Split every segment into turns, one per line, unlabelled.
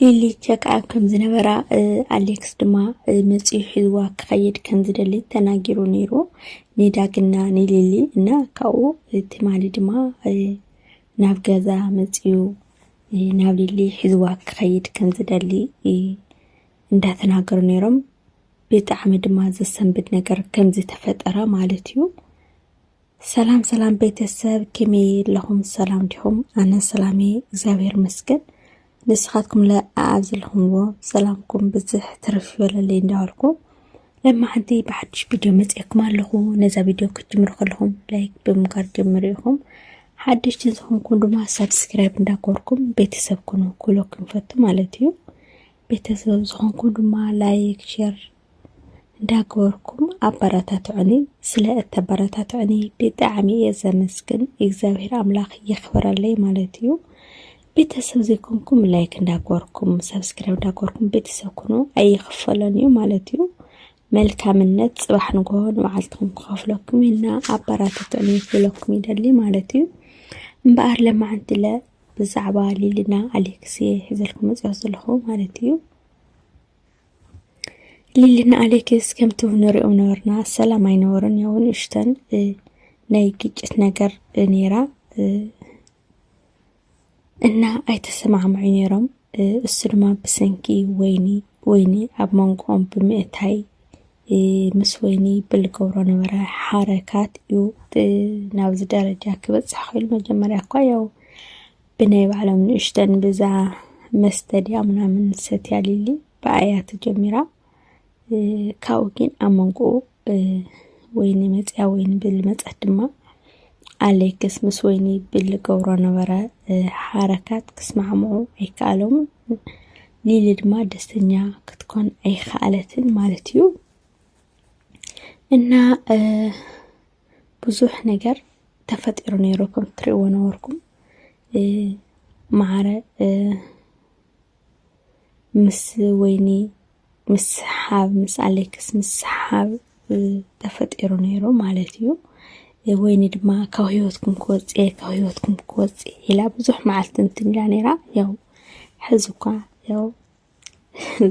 ሊሊ ቸክኣብ ከም ዝነበራ ኣሌክስ ድማ መፅኡ ሒዝዋ ክኸይድ ከም ዝደሊ ተናጊሩ ነይሩ ንዳግና ንሊሊ እና ካብኡ ትማሊ ድማ ናብ ገዛ መፅኡ ናብ ሊሊ ሒዝዋ ክኸይድ ከም ዝደሊ እንዳተናገሩ ነይሮም። ብጣዕሚ ድማ ዘሰንብድ ነገር ከም ዝተፈጠረ ማለት እዩ። ሰላም ሰላም ቤተሰብ ከመይ ኣለኹም? ሰላም ዲኹም? ኣነ ሰላም እየ እግዚኣብሔር ይመስገን። ንስኻትኩም ለ ኣብ ዘለኹምዎ ሰላምኩም ብዝሕ ትርፍ ይበለለይ እንዳበልኩ ለማ ሓንቲ ብሓድሽ ቪድዮ መፅኤኩም ኣለኹ። ነዛ ቪድዮ ክትጅምሩ ከለኹም ላይክ ብምጋር ጀምሩ ኢኹም። ሓደሽቲ ዝኾንኩም ድማ ሳብስክራይብ እንዳኮርኩም ቤተሰብ ኩኑ ኩሎ ክንፈቱ ማለት እዩ። ቤተሰብ ዝኾንኩም ድማ ላይክ ሼር እንዳገበርኩም ኣበረታትዑኒ ስለ እተበረታትዑኒ ብጣዕሚ እየ ዘመስግን እግዚኣብሔር ኣምላኽ የኽብረለይ ማለት እዩ ቤተሰብ ዘይኮንኩም ላይክ እንዳገበርኩም ሰብስክራይብ እንዳገበርኩም ቤተሰብ ኩኑ ኣይኽፈሎን እዩ ማለት እዩ መልካምነት ፅባሕ ንግሆ ንመዓልትኩም ክኸፍለኩም እና ኣበረታትዑኒ ክብለኩም ይደሊ ማለት እዩ እምበኣር ለማዓንትለ ብዛዕባ ሊልና ኣሌክስ እየ ሒዘልኩም መፅኦ ዘለኹ ማለት እዩ ሊሊና ኣሌክስ ከምቲ ንሪኦም ነበርና ሰላም ኣይነበሩን ያው ንእሽተን ናይ ግጭት ነገር ነይራ እና ኣይተሰማዕምዑ ነይሮም እሱ ድማ ብሰንኪ ወይኒ ወይኒ ኣብ መንጎኦም ብምእታይ ምስ ወይኒ ብልገብሮ ነበረ ሓረካት እዩ ናብዚ ደረጃ ክበፅሕ ክኢሉ መጀመርያ እኳ ያው ብናይ ባዕሎም ንእሽተን ብዛ መስተ ድያ ምናምን ሰትያ ሊሊ ብኣያ ተጀሚራ ካብኡ ግን ኣብ መንጎኡ ወይኒ መፅያ ወይኒ ብል መፀት ድማ ኣሌክስ ምስ ወይኒ ብል ገብሮ ነበረ ሓረካት ክስማዕምዑ ኣይከኣሎምን ሊሊ ድማ ደስተኛ ክትኮን ኣይከኣለትን ማለት እዩ እና ብዙሕ ነገር ተፈጢሩ ነይሩ ከም ትሪእዎ ነበርኩም መዓረ ምስ ወይኒ ምስ ሰሓብ ምስ ኣሌክስ ምስ ሰሓብ ተፈጢሩ ነይሩ ማለት እዩ ወይኒ ድማ ካብ ህይወትኩም ክወፅ ካብ ህይወትኩም ክወፅ ኢላ ብዙሕ መዓልቲ እንትን ኢላ ነይራ ያው ሕዚ እኳ ያው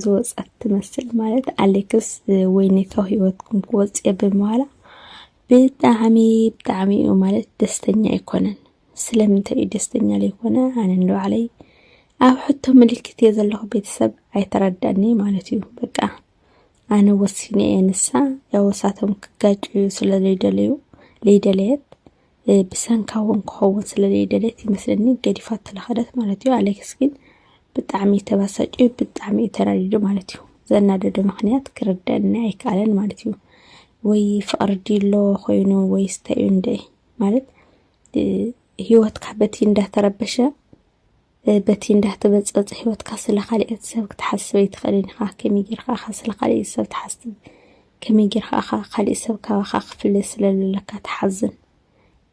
ዝወፀት ትመስል ማለት ኣሌክስ ወይኒ ካብ ህይወትኩም ክወፅየ ብምባላ ብጣዕሚ ብጣዕሚ እዩ ማለት ደስተኛ ኣይኮነን። ስለምንታይ እዩ ደስተኛ ዘይኮነ? ኣነ ንባዕለይ ኣብ ሕቶ ምልክት እየ ዘለኹ ቤተሰብ ኣይተረዳኒ ማለት እዩ። በቃ ኣነ ወሲነ እየ ንሳ ያወሳቶም ክጋጭ እዩ ስለ ዘይደለዩ ዘይደለየት ብሰንካ እውን ክኸውን ስለዘይደለየት ይመስለኒ ገዲፋቶ ለኸደት ማለት እዩ። ኣሌክስ ግን ብጣዕሚ እዩ ተበሳጭዩ፣ ብጣዕሚ እዩ ተናዲዱ ማለት እዩ። ዘናደዶ ምክንያት ክርደኒ ኣይከኣለን ማለት እዩ። ወይ ፍቕሪ ዲሎ ኮይኑ ወይ ስተዩ እንደ ማለት ህይወትካ በቲ እንዳተረበሸ በቲ እንዳተበጸጽ ህይወትካ ስለ ካልኦት ሰብ ክትሓስብ ኣይትኽእልን ኢኻ። ከመይ ጌርካ ኢኻ ስለ ካልኦት ሰብ ትሓስብ? ከመይ ጌርካ ኢኻ ካልእ ሰብ ካባኻ ክፍለ ስለ ዘለካ ትሓዝን?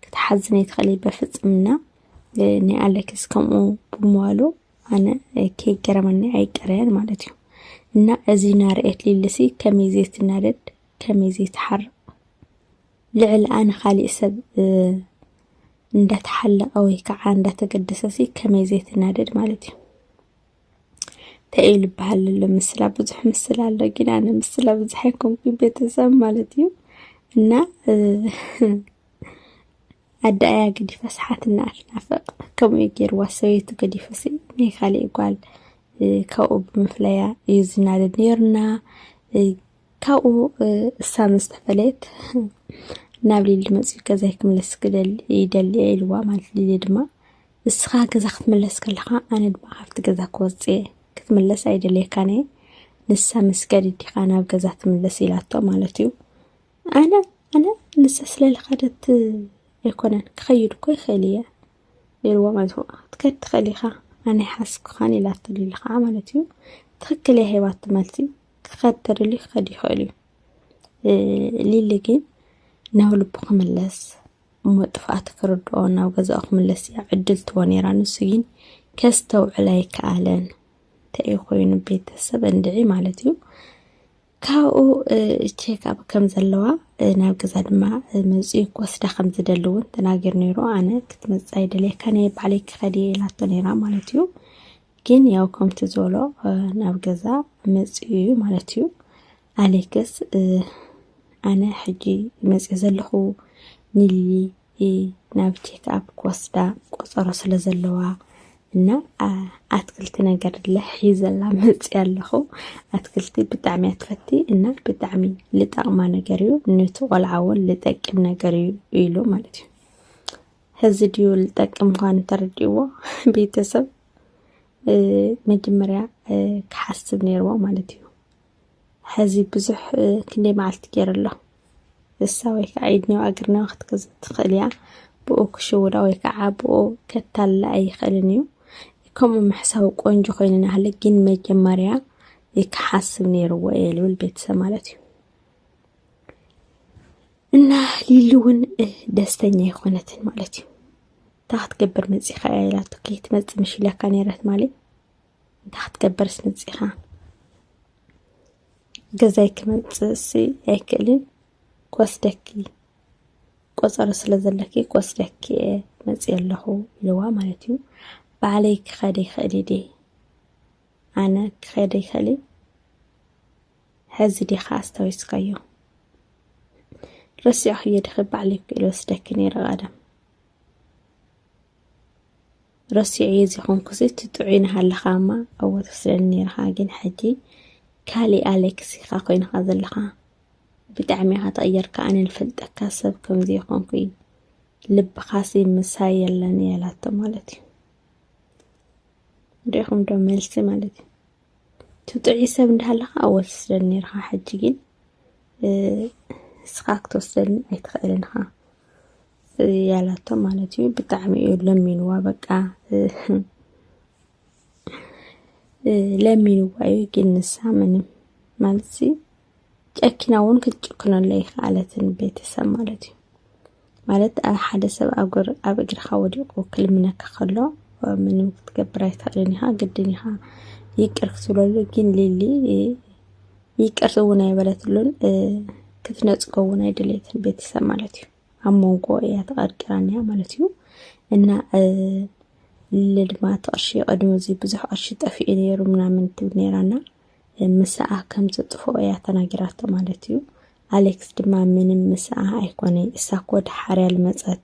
ክትሓዝን ኣይትኽእልን በፍጽምና። ናይ ኣሌክስ ከምኡ ብምባሉ ኣነ ከይገረመኒ ኣይቀረያን ማለት እዩ እና እዚ ናርኤት ሊልሲ ከመይ ዘይትናደድ ከመይ ዘይትሓርቕ ልዕልኣ ንኻሊእ ሰብ እንዳተሓለቐ ወይ ከዓ እንዳተገደሰ ሲ ከመይ ዘይትናደድ ማለት እዩ ተኢሉ ይበሃል ኣሎ ምስላ ብዙሕ ምስላ ኣሎ ግን ኣነ ምስላ ብዙሕ ኣይኮንኩኝ ቤተሰብ ማለት እዩ እና ኣዳኣያ ገዲፈ ስሓትና ኣትናፍቕ ከምኡ እዩ ገይርዋ ሰበይቱ ገዲፈ ሲ ናይ ካሊእ ጓል ካብኡ ብምፍለያ እዩ ዝናደድ ነይሩና ካብኡ እሳ ምስ ተፈለየት ናብ ሊሊ መፅኡ ገዛይ ክምለስ ይደሊ እየ ኢልዋ ማለት ሊሊ ድማ ንስኻ ገዛ ክትምለስ ከለኻ ኣነ ድማ ካብቲ ገዛ ክወፅ እየ ክትምለስ ኣይደልየካን እየ ንሳ ምስ ገድዲኻ ናብ ገዛ ትምለስ ኢላቶ ማለት እዩ ኣነ ኣነ ንሳ ስለልኸደት ኣይኮነን ክኸይድ እኮ ይኽእል እየ ኢልዋ ማለት እዩ ክትከድ ትኽእል ኢኻ ኣነ ሓስኩኻን ኢላቶ ሊሊ ከዓ ማለት እዩ ትኽክል እያ ሂባቶ መልሲ ክኸድ ተደልዩ ክኸድ ይኽእል እዩ ሊሊ ግን ናብ ልቡ ክምለስ እሞ ጥፍኣት ክርድኦ ናብ ገዛኡ ክምለስ እያ ዕድል ትቦ ነይራ ንሱ ግን ከስተውዕል ኣይከኣለን ተይ ኮይኑ ቤተሰብ እንድዒ ማለት እዩ ካብኡ ቼክኣፕ ከም ዘለዋ ናብ ገዛ ድማ መፅኡ ክወስዳ ከም ዝደሊ እውን ተናገር ነይሩ ኣነ ክትመፅእ ኣይደልየካ ናይ ባዕለይ ክኸድ እየ ኢላቶ ነይራ ማለት እዩ ግን ያው ከምቲ ዞሎ ናብ ገዛ መፅኡ እዩ ማለት እዩ ኣሌክስ ኣነ ሕጂ መፅኡ ዘለኹ ንሊሊ ናብ ቼክኣፕ ክወስዳ ቆፀሮ ስለ ዘለዋ እና ኣትክልቲ ነገር ለሒዘላ መፅ ኣለኹ ኣትክልቲ ብጣዕሚ ኣትፈቲ እና ብጣዕሚ ልጠቕማ ነገር እዩ ነቲ ቆልዓ እውን ልጠቅም ነገር እዩ ኢሉ ማለት እዩ ሕዚ ድዩ ልጠቅም ምዃኑ ተረዲእዎ ቤተሰብ መጀመርያ ክሓስብ ነይርዎ ማለት እዩ ሕዚ ብዙሕ ክንደይ መዓልቲ ገይሩ ኣሎ እሳ ወይ ከዓ ኢድኒዮ ኣግርኒዮ ክትገዝ ትኽእል እያ ብኡ ክሽውዳ ወይ ከዓ ብኡ ከታላ ኣይኽእልን እዩ ከምኡ ምሕሳው ቆንጆ ኮይኑ ናሃለ ግን መጀመርያ ክሓስብ ነይርዎ እየ ልብል ቤተሰብ ማለት እዩ እና ሊሊ እውን ደስተኛ የኮነትን ማለት እዩ እንታ ክትገብር መፂኻ እያ ኢላቶ ከይትመፅ ምሽ ኢላካ ነይረት ማለት እንታ ክትገብርስ መፂኻ ገዛይ ክመፅእስ ኣይክእልን ክወስደኪ ቆፀሮ ስለ ዘለኪ ክወስደኪ እየ መፅ ኣለኹ ኢልዋ ማለት እዩ ባዕለይ ክኸደ ይኽእል ደ ኣነ ክኸደ ይኽእል ሐዚ ዲኻ ኣስታዊስካዮ ረሲዕኽዮ ዲኺ ባዕለይ ክኢለ ወስደኪ ነይረ ቀደም ረሲዐዮ ዘይኮንኩሲ እቲ ጥዑይ ናሃለኻ እማ ኣብኡ ትወስደኒ ነይርኻ ግን ሕጂ ካሊእ ኣሌክስ ኢኻ ኮይንኻ ዘለኻ ብጣዕሚ ኢኻ ተቐየርካ ኣነ ንፈልጠካ ሰብ ከምዚ ይኾንኩ እዩ ልብኻሲ ምሳይ የለን የላቶ ማለት እዩ ሪኢኹም ዶ መልሲ ማለት እዩ ትጥዕይ ሰብ እንዳሃለኻ ኣወል ትስደድ ነርኻ ሕጂ ግን እስኻ ክትወስደኒ ኣይትኽእልን ኢኻ ያላቶ ማለት እዩ ብጣዕሚ እዩ ለሚንዋ በቃ ለሚንዋ እዩ ግን ንሳ ምንም ማለት ጨኪና እውን ክትጭክነሉ ኣይከኣለትን ቤተሰብ ማለት እዩ ማለት ሓደ ሰብ ኣብ እግርኻ ወዲቑ ክልምነካ ከሎ ምንም ክትገብር ኣይትኽእልን ኢኻ ግድን ኢኻ ይቅር ክትብለሉ ግን ሊሊ ይቅር እውን ኣይበለትሉን ክትነፅጎ እውን ኣይደለየትን ቤተሰብ ማለት እዩ ኣብ መንጎ እያ ተቐርቂራን እያ ማለት እዩ እና ልሊ ድማ እቲ ቅርሺ ቅድሚ እዚ ብዙሕ ቅርሺ ጠፊኡ ነይሩ ምናምን ትብል ነይራና ምስኣ ከም ዘጥፍኦ እያ ተናጊራቶ ማለት እዩ። ኣሌክስ ድማ ምንም ምስኣ ኣይኮነ እሳ እኮ ድሓርያ ልመፀት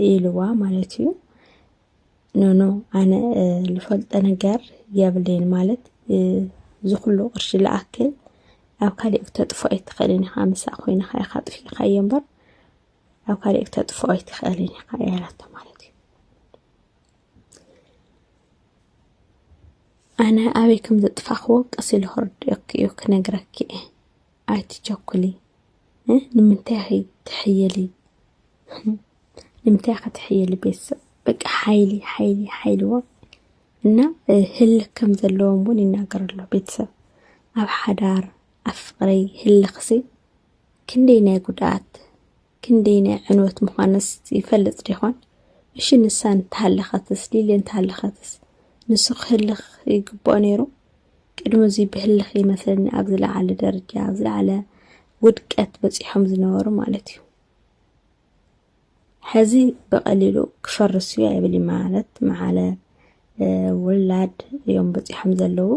ኢልዋ ማለት እዩ። ኖኖ ኣነ ልፈልጦ ነገር የብለይን ማለት ዝኩሉ ቅርሺ ልኣክል ኣብ ካሊእ ክተጥፎ ኣይትኽእልን ኢኻ ምሳእ ኮይንኻ ኢኻ ጥፊእኻዮ እምበር ኣብ ካሊእ ክተጥፎ ኣይትኽእልን ኢኻ ያላቶ ማለት እዩ ኣነ ኣበይ ከም ዘጥፋኽዎ ቀስ ኢሉ ክርድኦኪ እዩ ክነግረኪ እየ ኣይትቸኩሊ ንምንታይ ኸ ትሕየሊ ንምንታይ ኸ ትሕየሊ ቤተሰብ በቃ ሓይሊ ሓይሊ ሓይልዎ እና ህልክ ከም ዘለዎም እውን ይናገር ኣሎ ቤተሰብ ኣብ ሓዳር ኣብ ፍቅሪ ህልክሲ ክንደይ ናይ ጉድኣት ክንደየናይ ዕንወት ምዃነስ ይፈልጥ ዲኾን? እሺ ንሳ እንተሃለኸትስ ሊሊ እንተሃለኸትስ ንሱ ክህልኽ ይግብኦ ነይሩ? ቅድሚ እዙይ ብህልኽ ይመስለኒ ኣብ ዝለዓለ ደረጃ ኣብ ዝለዓለ ውድቀት በፂሖም ዝነበሩ ማለት እዩ። ሕዚ ብቐሊሉ ክፈርስ እዩ ኣይብል ማለት መዓለ ውላድ እዮም በፂሖም ዘለዉ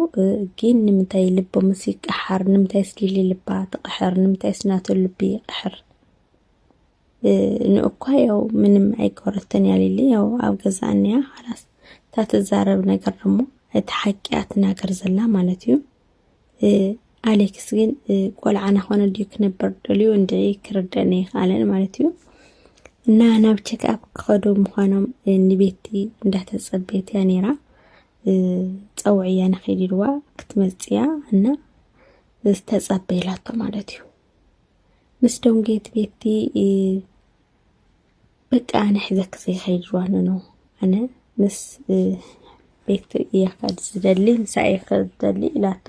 ግን ንምንታይ ልቦምስ ይቀሓር ንምንታይስ ሊሊ ልባ ትቐሕር ንምንታይስ ናቶ ልቢ ይቐሕር ንእኳ ያው ምንም ኣይገበረትን እያ ሊሊ ያው ኣብ ገዛ እንያ ኻላስ እታ ትዛረብ ነገር ደሞ እቲ ሓቂ እያ ትናገር ዘላ ማለት እዩ ኣሌክስ ግን ቆልዓ ናኾነ ድዩ ክነበር ደልዩ እንዲ ክርደን ይካለን ማለት እዩ እና ናብ ቼክኣፕ ክኸዱ ምዃኖም ንቤቲ እንዳተፀበየት እያ ነይራ ፀውዕ እያ ንኸይድ ኢልዋ ክትመፅያ እና ዝተፀበየላቶ ማለት እዩ ምስ ደንጌት ቤቲ በቃ ኣነ ሕዘኪ ዘይኸይድ ዋነ ነው ኣነ ምስ ቤት እያ ከድ ዝደሊ ምሳ እየ ከድ ዝደሊ ኢላቶ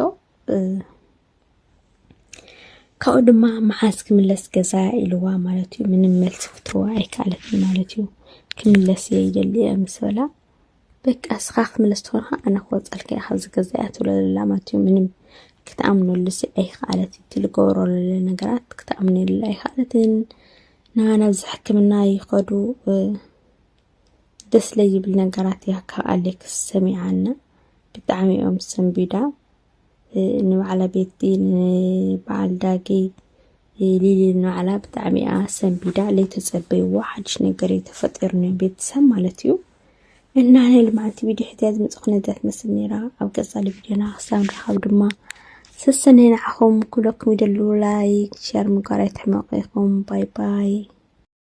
ካብኡ ድማ መዓዝ ክምለስ ገዛ ኢልዋ ማለት እዩ ምንም መልሲ ክትህዋ ኣይከኣለትን ማለት እዩ ክምለስ እየ ይደሊ እየ ምስ በላ በቃ እስኻ ክምለስ ተኾንካ ኣነ ክወፀልካ እየ ካብዚ ገዛ እያ ትብለለላ ማለት እዩ ምንም ክትኣምነሉ ሲ ኣይክኣለት እቲ ልገብሮ ለለ ነገራት ክትኣምነሉ ኣይክኣለትን እና ናብዚ ሕክምና ይኸዱ እ፣ ደስ ለይብል ነገራት እያ ካብ ኣሌክስ ሰሚዓና ብጣዕሚ እዮም ሰንቢዳ ንባዕላ ቤቲ ንበዓል ዳጊ ሊሊ ንባዕላ ብጣዕሚ እያ ሰንቢዳ ለይቲ ፀበይዎ ሓድሽ ነገር እዩ ተፈጢሩ ናይ ቤተሰብ ማለት እዩ እና ናይ ልምዓቲ ቪድዮ ሕትያ ዝመፅእ ኩነታት መስል ነይራ ኣብ ቀፃሊ ቪድዮና ክሳብ ንረኸብ ድማ ሰሰነይ ንዓኹም ኩለኩም ይደልው ላይክ ሸር ምግባር ኣይትሕመቑ ኢኹም ባይ ባይ